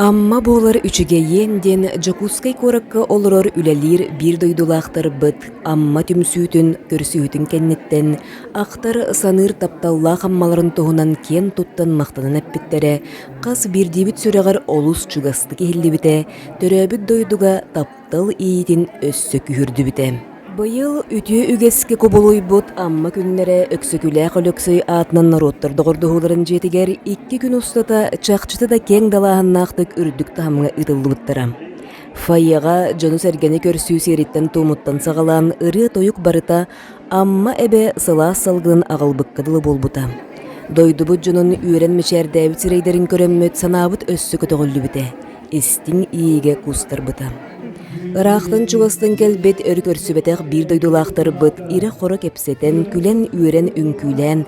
Амма буолар үчүгэйиэн диэн Дьокуускай куоракка олорор үлэлиир биир дойдулаахтарбыт Амма түмсүүтүн көрсүһүүтүн кэнниттэн ахтар саныыр тапталлаах аммаларын туһунан киэн туттан махтанан эппиттэрэ хас биирдиибит сүрэҕэр олус чугастык иһиллибитэ төрөөбүт дойдуга таптал тыл иитин өссө күһүрдүбүтэ. Быйыл үтүө үгэскэ кубулуйбут Амма күннэрэ Өксөкүлээх Өлөксөй аатынан норуоттар доҕордоһууларын дьиэтигэр икки күн устата чахчыта да киэҥ далааһыннаахтык үрдүк таһымҥа ыытыллыбыттара. Фойеҕа дьону-сэргэни көрсүү сиэриттэн-туомуттан саҕалаан ырыа-тойук барыта Амма эбэ сылаас салгынын аҕалбыкка дылы буолбута. Дойдубут дьонун үөрэн мичээрдээбит сирэйдэрин көрөммүт санаабыт өссө көтөҕүллүбүтэ. истиҥ иэйиигэ куустарбыта. Ыраахтан-чугастан кэлбит өр көрсүбэтэх биир дойдулаахтарбыт ирэ-хоро кэпсэтэн, күлэн-үөрэн үҥкүүлээн,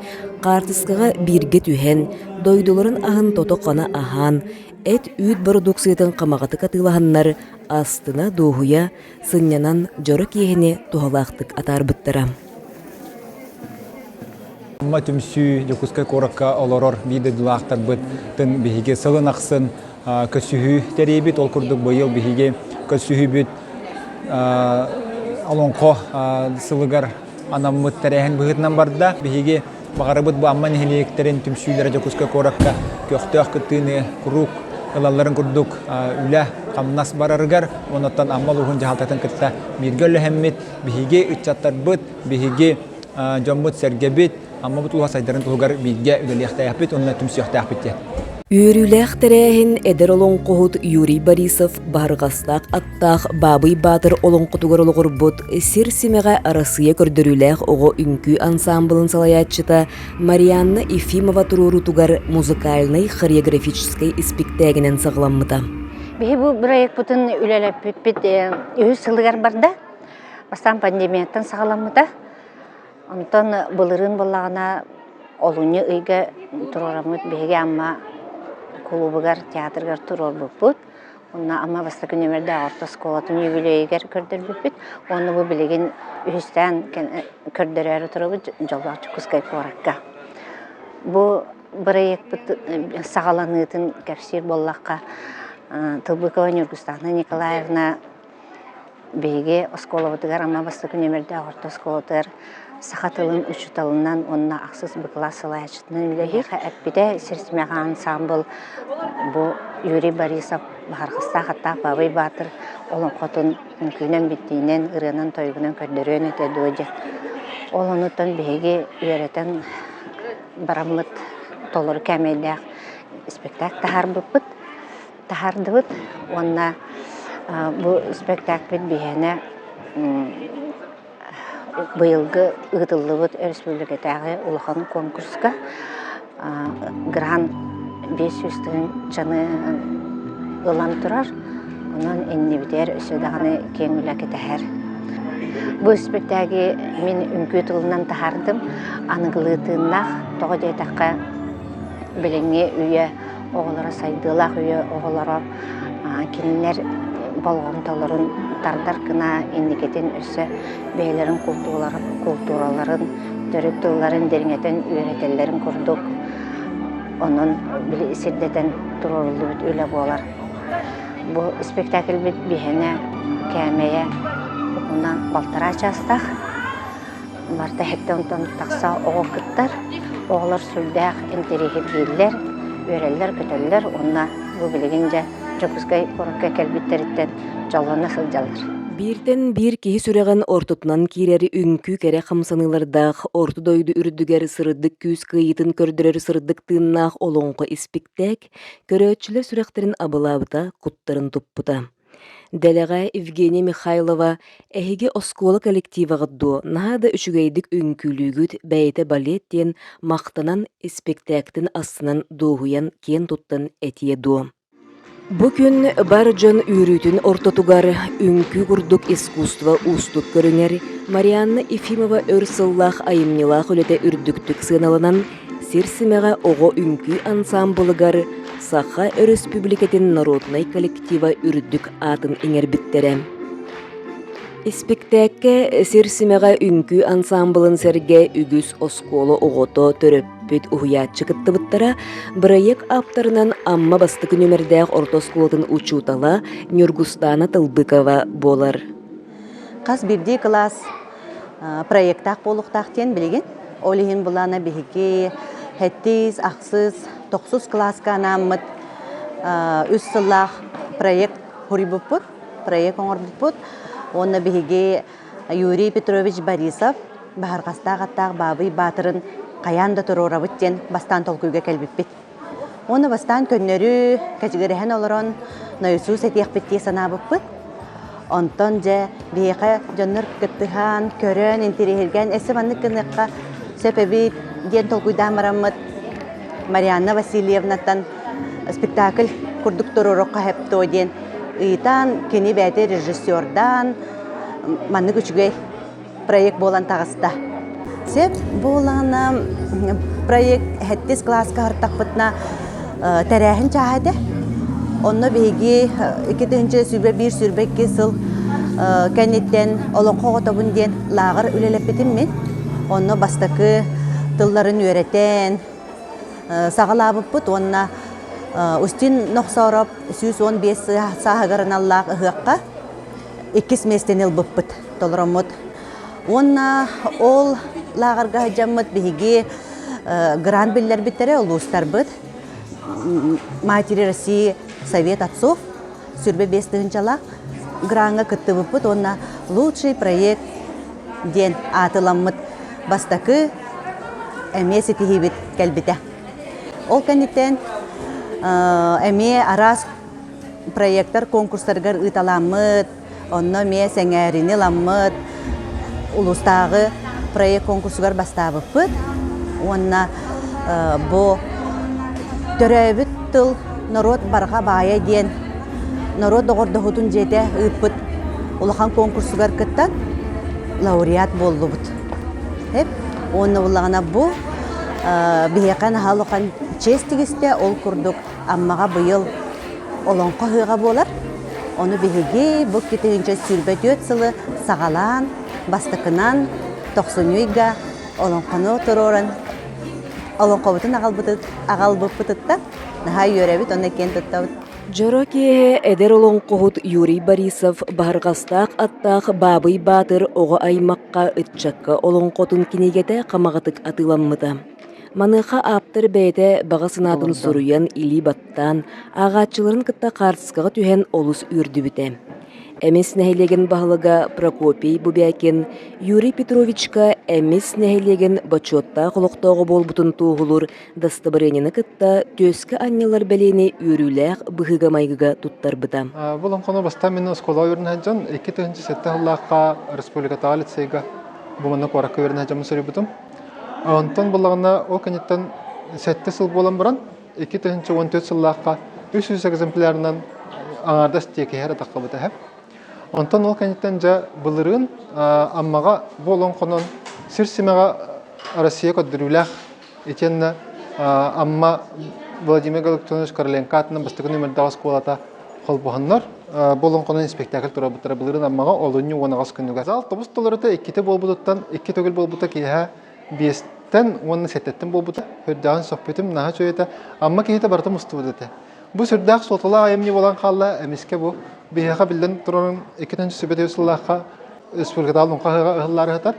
хаартыскаҕа бииргэ түһэн, дойдуларын аһын тото-хана аһаан, эт-үүт бородууксуйатын хамаҕатык атыылаһаннар астына-дуоһуйа, сынньанан дьоро киэһэни туһалаахтык атаарбыттара. Уҥа түмсүү Дьокуускай куоракка олорор биир дойдулаахтарбытын биһиги сылын ахсын көрсүһүү тэрийбит. Ол курдук быйыл биһиги көрсүһүүбүт Олоҥхо сылыгар анаммыт тэрээһин быһыытынан барда. Биһиги баҕарабыт бу Амма нэһилиэктэрин түмсүүлэрэ Дьокуускай куоракка көхтөөх кыттыыны, куруук ылалларын курдук үлэ, хамнас барарыгар, онон Амма улууһун дьаһалтатын кытта бииргэ үлэлэммит биһиги ыччаттарбыт, биһиги дьоммут-сэргэбит Аммабыт ууһа сайдарын туһугар бииргэ үлэлиэхтээхпит уонна түмсүөхтээхпит диэн. Үөрүүлээх тэрээһин эдэр олоҥхоһут Юрий Борисов Баһырҕастаах аттаах Баабый Баатыр олоҥхотугар олоҕурбут Сир симэҕэ Арассыыйа көрдөрүүлээх оҕо үҥкүү ансаамбылын салайааччыта Марианна Ефимова туруоруутугар музыкальнай-хореографическай испиктээгинэн саҕаламмыта. Биһи бу бырайыкпытын үлэлэппиппит үһүс сылыгар барда. Бастаан пандемияттан саҕаламмыта. Онтон былырыын буоллаҕына олунньу ыйга туруораммыт биһиги Амма кулуубугар, театрыгар туруорбуппут. Уонна Амма бастакы нүөмэрдээх орто оскуолатын юбилейыгар көрдөрбүппүт. Уонна бу билигин үһүстээн көрдөрөөрү туруорбут Дьоллоох Дьокуускай куоракка. Бу бырайыакпыт саҕаланыытын кэпсиир буоллахха, Тылбыкова Ньургустаана Николаевна Биһиги оскуолабытыгар Амма бастакы нүөмэрдээх орто оскуолатыгар саха тылын учууталынан уонна ахсыс быкылаас салайааччытынан үлэлиир эппитэ сирсимэх ансаамбыл бу Юрий Борисов Баһархастаах аттаах Баабай Баатыр олоҥхотун үҥкүүнэн биттиинэн ырыанан-тойугунан көрдөрүөн этэ дуо диэн ол оннуттан биһиги үөрэтэн бараммыт толору кээмэйдээх спектак таһаарбыппыт таһаардыбыт уонна бу спектакль биһиэнэ быйылгы ыытыллыбыт өрөспүүбүлүкэтээҕи улахан конкурска грант биэс сүүс тыһын чаны ылан турар онон иннибитигэр өссө даҕаны киэҥ үлэ кэтэһэр бу спектаги мин үҥкүү тылынан таһаардым аныгылыы тыыннаах тоҕо диэтэххэ билиҥҥи үйэ оҕолоро сайдыылаах үйэ оҕолоро кинилэр болҕомтолорун тардар гына инникитин өссө бэйэлэрин култуураларын төрүт тылларын дириҥэтэн үөрэтэллэрин курдук онон сирдэтэн туруоруллубут үлэ буолар бу спектакльбит биһэнэ кээмэйэ уһуна балтараа чаастаах Марта иһиттэ онтон тахса оҕо кыттар. Оҕолор сүрдээх интэриэһи бииллэр, үөрэллэр-көтөллөр уонна бу билигин дьэ Дьокуускай куоракка кэлбиттэриттэн дьоллоно сылдьаллар. Бииртэн биир киһи сүрэҕин ортотунан киирэр үҥкүү кэрэ хамсаныылардаах орто дойду үрдүгэр сырдык күүс кыайыытын көрдөрөр сырдык тыыннаах олоҥхо испиктээк көрөөччүлэр сүрэхтэрин абылаабыта куттарын туппута. Дэлэҕэ Евгения Михайлова «Эһиги оскуола коллективаҕыт дуо, наһаа да үчүгэйдик үҥкүүлүүгүт, бэйэтэ балет» диэн махтанан испэктээктин астынан дуоһуйан киэн туттан этиэ дуо Бу күн бар дьон үөрүүтүн ортотугар үҥкүү курдук искусство уустук көрүҥэр Марианна Ефимова өр сыллаах айымньылаах үлэтэ үрдүктүк сыаналанан Сир симэҕэ оҕо үҥкүү ансаамбылыгар Саха Өрөспүүбүлүкэтин норуотунай коллектива үрдүк аатын иҥэрбиттэрэ. Испиктээккэ Сир симэҕэ үҥкүү ансаамбылын сэргэ үгүс оскуола оҕото, төрөппүт, уһуйааччы кыттыбыттара, бырайыак ааптарынан Амма бастакы нүмердээх орто оскуолатын учуутала Ньургустаана Тылбыкова буолар. Хас бирдии кылаас проектаах буолуохтаах диэн билигин. Ол иһин былаана биһиги сэттис, ахсыс, тохсус кылааска анааммыт үс сыллаах проект суруйбуппут, проект оҥорбуппут. Уонна биһиги Юрий Петрович Борисов Баһарҕастаах аттаах Баабый Баатырын хайаан да туруорабыт диэн бастаан толкуйга кэлбиппит. Уонна бастаан көннөрү кэчигирэһэн олорон нойусуус этиэхпит дии санаабыппыт. Онтон дьэ биһиэхэ дьоннор кыттыһан, көрөн, интириэһиргэн өссө маннык гыныахха сөп эбит диэн толкуйдаан бараммыт Марианна Васильевнаттан спектакль курдук туруоруохха сөп дуо диэн ыйытан, кини бэйэтэ режиссердаан маннык үчүгэй проект буолан таҕыста. Сөп буоллаҕына проект 70 класска артахпытына тэрээһин чааһа этэ. Онно биһиги икки тыһыынча сүбэ биир сүрбэ икки сыл кэнниттэн олоҥхо оҕотобун диэн лааҕыр үлэлэппитим мин. Онно бастакы тылларын үөрэтэн саҕалаабыппыт уонна Устин Нохсоороп сүүс уон биэс сааһыгар аналлаах ыһыахха иккис миэстэни ылбыппыт. толороммут. Уонна ол лааҕырга сылдьаммыт биһиги грант биллэрбиттэрэ улуустарбыт Матери России Совет отцов сүрбэ биэс тыһынчалаах граҥҥа кыттыбыппыт уонна «Лучший проект» диэн аатыламмыт бастакы эмиэ ситиһиибит кэлбитэ. Ол кэнниттэн эмиэ араас проектар конкурстарыгар ыыталаммыт, Онно эмиэ сэҥээрини ыламмыт улуустааҕы проект конкурсугар бастаабыппыт уонна бу төрөөбүт тыл норуот барҕа баайа диэн норуот доҕордоһуутун дьиэтэ ыыппыт улахан конкурсугар кыттан лауреат буоллубут. Эп уонна буллаҕына бу биһиэхэ наһаа улахан чиэс тигистэ ол курдук Аммаҕа быйыл Олоҥхо ыһыаҕа буолар. Ону биһиги бу тыһыынча сүүрбэ түөрт сылы саҕалаан бастакынан Тохсунньуйга олоҥхону туруоран олоҥхобутун аҕалбыппытыттан наһаа үөрэбит уонна киэн туттабыт. Дьоро киэһэ эдэр олоҥхоһут Юрий Борисов Барҕастаах аттаах Баабый Баатыр оҕо аймахха ыччакка олоҥхотун кинигэтэ хамаҕатык атыыламмыта. Маныаха ааптар бэйэтэ баҕа санаатын суруйан, илии баттаан, ааҕааччыларын кытта хаартыскаҕа түһэн олус үөрдүбүтэ. Эмис нэһилиэгин баһылыга Прокопий Бубякин Юрий Петровичка Эмис нэһилиэгин бочуоттаах олохтооҕо буолбутун туоһулуур дастабырыанньаны кытта түөскэ анньылар бэлиэни үөрүүлээх быһыыга-майгыга туттарбыта. Болоҥхону бастаан мин оскуола үөрэнэ сылдьан, икки тыһыынча сэттэ сыллаахха республикатааҕы лицейга Бумана куоракка үөрэнэ сылдьан суруйбутум. Онтон былаҕына ол кэнниттэн сэттэ сыл буолан баран икки тыһыынча уон төрт сыллаахха үс жүз экземплярынан аҥаардас тиэкиһэр атаххабыт эһэ. Онтон ол кэнниттэн дьэ былырыын Аммаҕа буолан хонон сир симэҕэ Россия көрдөрүүлээх итиэннэ Амма Владимир Галиктонович Короленко аатынан бастакы нөмердээх оскуолата холбоһоннор болоҥхону спектакль турарбыттара былырын аммаҕа олунньу уон аҕыс күнүгэр зал тобус толорута иккитэ буолбутуттан икки төгүл буолбута киэһэ биэстэн уонна сэттэттэн буолбута сүрдээҕин сөхпүтүм наһаа үчүгэйэтэ амма киһитэ барыта мустубут этэ бу сүрдээх суолталаах айымньы буолан хаалла эмискэ бу биһиэхэ биллэн турарын икки төнчү сүбэтэ сыллаахха республикатаал уҥха ыһыллаары ыһытар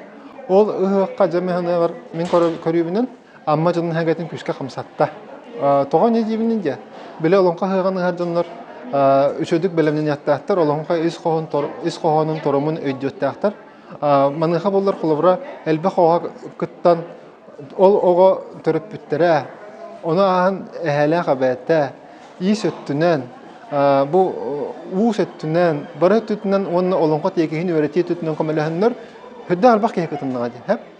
ол ыһыахха дьэ миһыныгар мин көрүүбүнэн Амма дьонун эһэгэтин күүскэ хамсатта. Тоҕо не диибинин диэн, били олоҥхо ыһыаҕын ыһар дьоннор үчүгдүк бэлэмнэниэхтээхтэр, олоҥхо ис хоһоонун торомун өйдүөхтээхтэр. Маныаха буоллар холобура элбэх оҕо кыттан ол оҕо төрөппүттэрэ, ону ааһан эһээлээх эбээтэ иис өттүнэн, бу уус өттүнэн, бары өттүнэн уонна олоҥхо тиэкиһин үөрэтии өттүнэн көмөлөһөннөр, үрдэ албах киһи кытыннаҕа дии.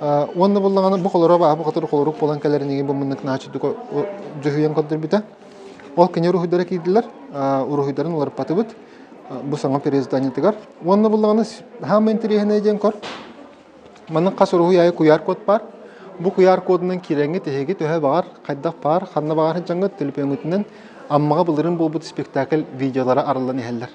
Уонна буллаҕына бу холоро бааһы хотор холорук булан кэлэрин иги бу муннук наачытык дьүһүйэн көрдөрбүтэ. Ол кинер уруһуйдара киирдилэр. Уруһуйдарын уларпатыбыт бу саҥа переизданиетыгар. Уонна буллаҕына хаама интэриэһинэй диэн кор. Маннык хас уруһуй айы куяр код бар. Бу куяр кодунан киреҥи тиһиги төһө бағар, қайдақ бар, қанна бағар жаңғыт телепемытынан аммаға былырын болбут спектакль видеолары арылан иһеллер.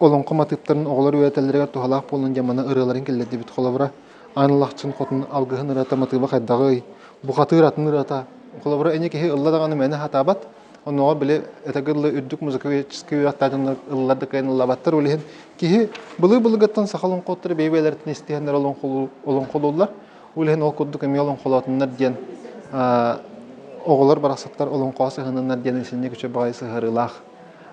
олоҥхо матыыптарын оҕолор үөрэтэллэригэр туһалаах буолан дьамана ырыаларын киллэрдибит холобура Аан Алахчын хотун алгыһын ырыата матыыба хайдаҕый бухатыыр атын ырыата холобура ини киһи ылла даҕаны мээнэ сатаабат онуоҕа били этэргэ дылы үрдүк музыкальческий үөхтаатыннар ыллар да кыайан ыллаабаттар ол иһин киһи былыр былыргаттан саха олоҥхоттор бэйэ-бэйэлэриттэн истиһэннэр олоҥхолууллар ол иһин ол курдук эмиэ олоҥхолоотуннар диэн оҕолор барахсаттар олоҥхоҕо сыһынныннар диэн исинньэ күчэ баҕайы сыһарыылаах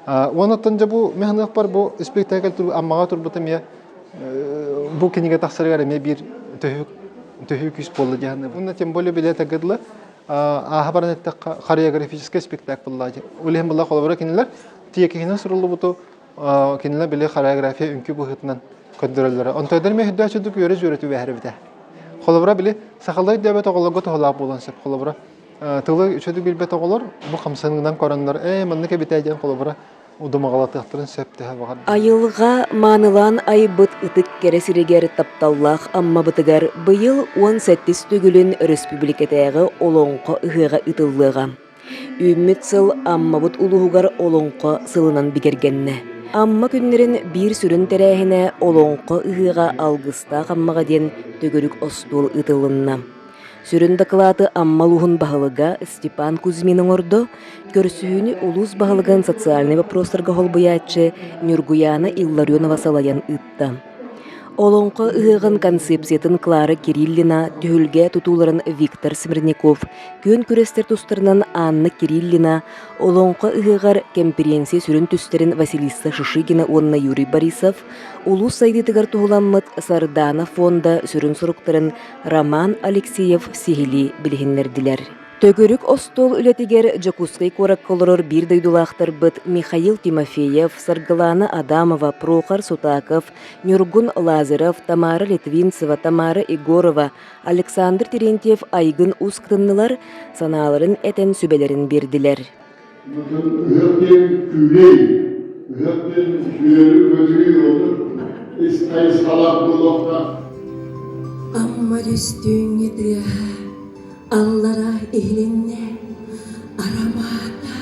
Уонуттан дьэ бу механыахпар бу спектакль Аммаҕа турбутум я бу кинигэ тахсарыгар эмиэ биир төһүү күүс буолла диэхэнэ. Уонна тем более билет агыдла ааха баран эттэххэ хореографический спектакль лаади. Улиһин была холобура кинилэр тиэкиһинэн суруллубуту кинилэр били хореография үнкү быһытынан көндөрөллөрө. Онтойдар ме хүддөөчүдүк үөрө-сүөрөтү вәһәрбитэ. Холобура били сахалай дөбөт оголого тоһолаах буолан сөп холобура тылы үчүгэй билбэт оҕолор бу хамсаныынан көрөннөр ээ маннык эбитэ диэн холобура удумаҕалатыахтарын сөп түһэ баҕар Айылҕа маанылаан айбыт ытык кэрэ сиригэр тапталлаах Аммабытыгар быйыл уон сэттис төгүлүн өрөспүүбүлүкэтээҕи Олоҥхо ыһыаҕа ыытыллыаҕа. Үүммүт сыл Аммабыт улууһугар Олоҥхо сылынан бигэргэннэ. Амма күннэрин биир сүрүн тэрээһинэ Олоҥхо ыһыаҕа алгыстаах Аммаҕа диэн төгүрүк остуол ыытылынна. Сүрүн дакылааты Амма улууһун баһылыга Степан Кузьмин оҥордо, көрсүһүүнү улуус баһылыгын социальнай вопростарга холбуйааччы Ньургуяна Илларионова салайан ыытта. Олоҥхо ыһыаҕын концепциятын Клара Кириллина, түһүлгэ тутууларын Виктор Смирников, күөн күрэстэр тустарынан Анна Кириллина, Олоҥхо ыһыаҕар кэмпириэнсийэ сүрүн түстэрин Василиса Шишигина уонна Юрий Борисов, улуус сайдыытыгар туһуламмыт Сардаана фонда сүрүн соруктарын Роман Алексеев сиһилии билиһиннэрдилэр. Төгүрүк остуол үлэтигэр Дьокуускай куоракка олорор биир дойдулаахтарбыт Михаил Тимофеев, Саргылаана Адамова, Прохор Сутаков, Ньургун Лазарев, Тамара Литвинцева, Тамара Егорова, Александр Терентьев айгын ус кытыннылар, санааларын этэн сүбэлэрин биэрдилэр. Мытын ыһыах диэн күүлэй, ыһыах диэн үтүөлүү бөдүрүй отур, ис хайысхалаах буолуохтаах. Аммар үстүүҥҥэ тыа аллара иһилиннэ. Арамаата,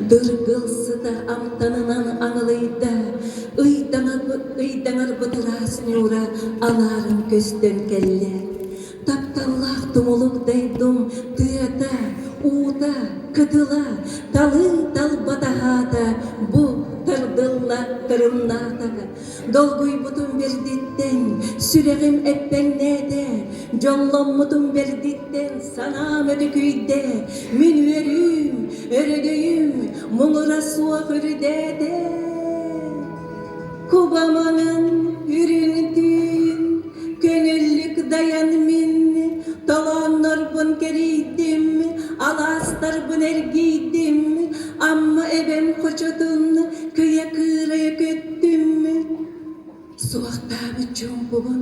дыргылсыта амтанынан аҥылыйда. Ыйдаҥарбыт ыраас ньуура алаарын көстөн кэллэ. Тапталлаах тумулук дайдум тыата, уута, кытыла, талыы талбатаһаата, бу тардылла тырымнаатака. Долгуйбутум бэрдиттэн, сүрэҕим эппэҥнээтэ, дьолломмутум бэрдиттэн, санаам өтүкүйдэ, мин үөрүүм, өрөгөйүм муҥура суох үрдээтэ. Кубамаҥын үрүҥ-түүн көнүллүк дайан мин толооннорбун кэрийдим, алаастарбын эргийдим, Амма эбэм хочотун кыйа-кыырайа көттүм, суохтаабыт чуумпубун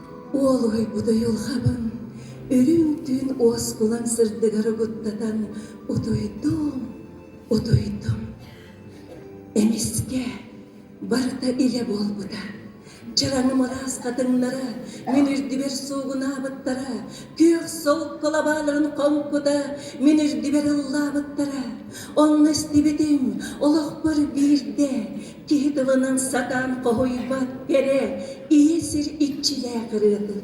Уолуһуйбут уйулҕабын үрүҥ түүн уоскулан сырдыгар угуттатан утуйдум, утуйдум. Эмискэ барыта илэ буолбута. Чараҥым араас хатыҥнара мин үрдүбэр суугунаабыттара, күөх солк кылабааларын хоҥкута мин үрдүбэр ыллаабыттара. Онно истибитим, олохпор биирдэ Киһи тылынан сатаан хоһуйбат кэрэ, ийэ сир иччилээх ырыатын.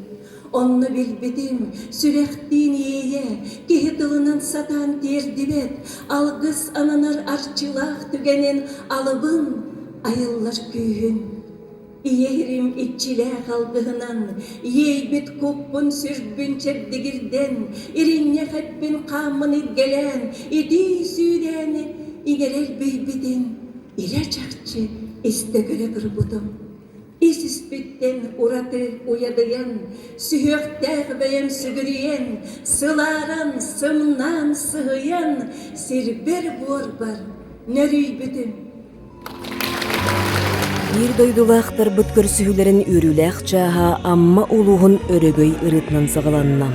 Онно билбитим, сүрэхтиин иэйэ, киһи тылынан сатаан тиэрдибэт, алгыс ананар арчылаах түгэнин алыбын айыллар күүһүн. Ийэ ирим иччилээх алгыһынан, иэйбит куппун сүрбүн чэбдигирдэн, иринньэх эппин хааммын илгэлээн, итии сүүрээни игэрэр бийбитин, Илэ чахчы истэ көрө турбутум, ис-испиттэн ураты уйадыйан, сүһүөхтээх бэйэм сүгүрүйэн, сылааран, сымнаан, сыһыйан, сирбэр-буорбар нөрүйбүтүм. Биир дойдулаахтарбыт көрсүһүүлэрин үөрүүлээх чааһа Амма улууһун Өрөгөй ырыытынан саҕаланна.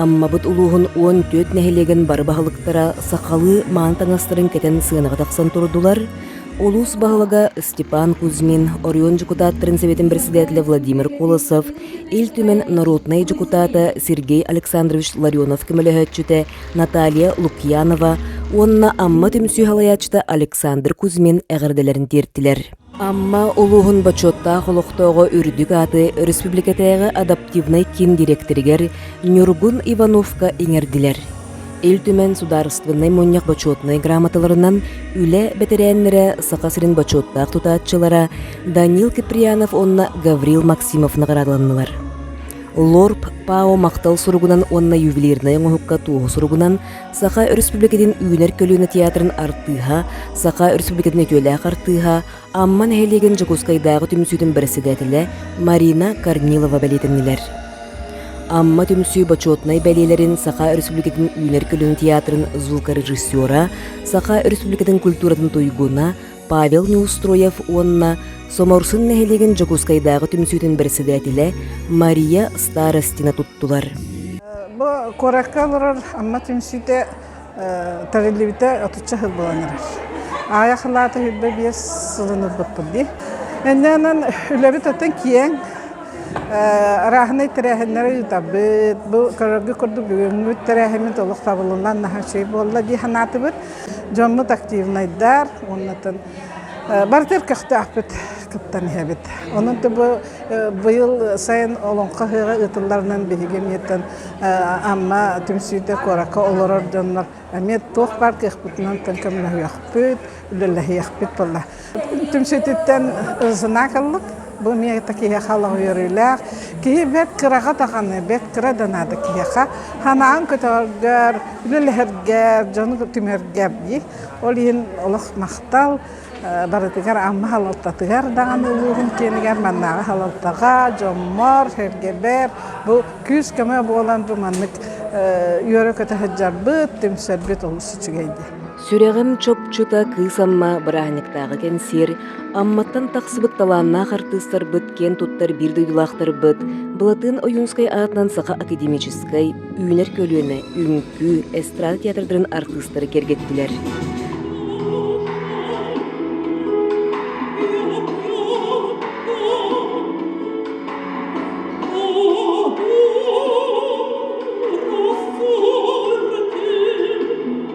Аммабыт улууһун 14 нэһилиэгин бары баһылыктара сахалыы мааны таҥастарын кэтэн сыанаҕа тахсан турдулар, улуус баһылыга Степан Кузьмин, Орион дьокутааттарын Советин председателя Владимир Колосов, Ил Түмэн народнай дьокутаата Сергей Александрович Ларионов көмөлөһөөччүтэ Наталья Лукьянова уонна Амма түмсүү салайааччыта Александр Кузьмин эҕэрдэлэрин тиэртилэр. Амма улууһун бочуоттаах олохтооҕо үрдүк ааты өрөспүүбүлүкэтээҕи адаптивнай киин дириэктэригэр Ньургун Ивановка иҥэрдилэр. Ил Түмэн Судаарыстыбыннай Мунньах бочуотунай грамоталарынан үлэ бэтэрээннэрэ, Саха сирин бочуоттаах тутааччылара Данил Киприянов уонна Гаврил Максимов наҕараадаланнылар. Лорд Пао махтал суругунан уонна ювелирнай оҥоһукка туоһу суругунан Саха Өрөспүүбүлүкэтин Үүнэр көлүөнэ театрын артыыһа, Саха Өрөспүүбүлүкэтин үтүөлээх артыыһа, Амма нэһилиэгин Дьокуускайдааҕы түмсүүтүн бэрэссэдээтэлэ Марина Корнилова бэлиэтэннилэр. Амма түмсүү бочуотунай бэлиэлэрин Саха Өрөспүүбүлүкэтин Үүнэр көлүөнэ театрын звукорежиссера, Саха Өрөспүүбүлүкэтин культуратын туйгуна, Павел Неустроев уонна Соморсун нэһилиэгин Дьокуускайдааҕы түмсүүтүн бэрэссэдээтилэ Мария Старостина туттулар. Бу куоракка олорор Амма түмсүүтэ тэриллибитэ отучча сыл буолан эрэр. Аайа халаата хүрбэ биэс сылын ылбыппыт дии. Эннээнэн үлэбит оттон киэҥ. Арааһынай тэрээһиннэри ыытарбыт. Бу көрөргө курдук бүгүҥҥүт тэрээһиммит олох табылынан наһаа үчүгэй буолла дии санаатыбыт. дьоҥҥут активнайдар уоннатын барытыгар көхтөөхпүт кыттан иһэбит онон бу быйыл сайын олоҥхо ыһыаҕа ыытылларынан биһиги эмиэтэн Амма түмсүүтэ куоракка олорор дьоннор эмиэ туох баар кыахпытынан көмөлөһүөхпүт үлэлэһиэхпит буолла Түмсүүтүттэн знак ыллык. Бу миэхэ киһи халах үөрүүлээх. Киһи бэт кыраҕа даҕаны, бэт кыра да наада киһиэхэ. Ханаан көтөргөр, үлэлэһэргэр, дьону түмэргэр дии. Ол иһин олох махтал. Барытыгар Амма Халалтатыгар даҕаны улууһун киэнигэр маннааҕы Халалтаҕа, дьоммор, сэргэбэр бу күүс-көмө буолан бу маннык үөрэ-көтө сылдьарбыт, түмсэрбит олус үчүгэй дии. Сүрэҕим чопчута кыыс Амма бырааһынньыктааҕы кэнсиэр Амматтан тахсыбыт талааннаах артыыстарбыт киэн туттар биир дойдулаахтарбыт Былатыан Ойуунскай аатынан саха академическай үүнэр көлүөнэ үҥкүү, эстрада театрдарын артыыстары кэргэттилэр.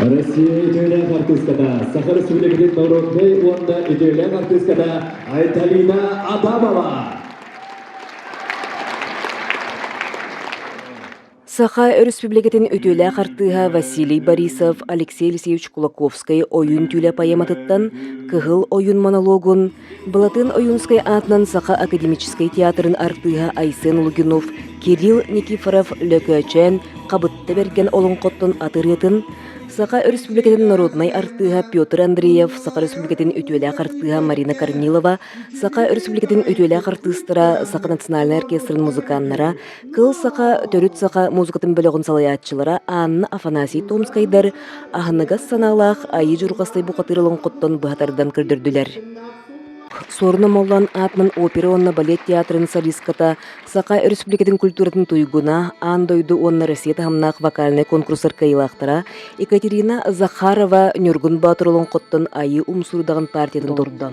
Россия үтүөлээх артыыската, Саха Республикатын норуодунай уонна үтүөлээх артыыската Айталина Адамова. Саха Республикатын үтүөлээх артыыһа Василий Борисов Алексей Алексеевич Кулаковскай ойуун түүлэ поэматыттан Кыһыл ойун монологун Былатыан Ойуунскай аатынан Саха академическай театрын артыыһа Айсен Лугинов Кирилл Никифоров Лөкөөчөөн Хабытта Бэргэн олоҥхоттон аты ырыатын, Саха Өрөспүүбүлүкэтин норуодунай артыыһа Петр Андреев, Саха Өрөспүүбүлүкэтин үтүөлээх артыыһа Марина Корнилова, Саха Өрөспүүбүлүкэтин үтүөлээх артыыстара, Саха национальнай оркестрын музыканнара, Кыл саха, төрүт саха музыкатын бөлөҕүн салайааччылара Анна Афанасий Томскайдар аһыныгас санаалаах Айыы Дьурҕастай бухатыырылын хоттон быһа тардан көрдөрдүлэр. Суорунам Моллан аатынан опера уонна балет театрын солистката, Саха Өрөспүүбүлүкэтин культуратын туйгуна, аан дойду уонна Россия таһымнаах вокальнай конкурстар кыайыылаахтара Екатерина Захарова Ньургун Баатыр олоҥхоттон Айыы Умсуурдаҕын партиятын турда.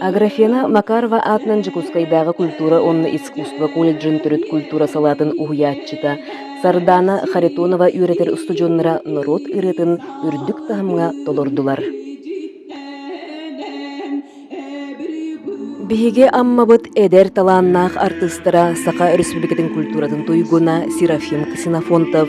Аграфена Макарова аатынан Дьокуускайдааҕы культура уонна искусство колледжын төрүт культура салаатын уһуйааччыта Сардаана Харитонова үөрэтэр устудьуоннара норуот ырыатын үрдүк таһымҥа толордулар. Биһиги Аммабыт эдэр талааннаах артыыстара Саха Өрөспүүбүлүкэтин культуратын туйгуна Серафим Ксенофонтов,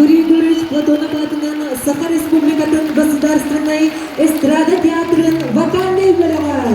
Юрий Егорович Платонов аатынан Саха Республикатын Государственной эстрада театрын вокальнай үөрэҕэ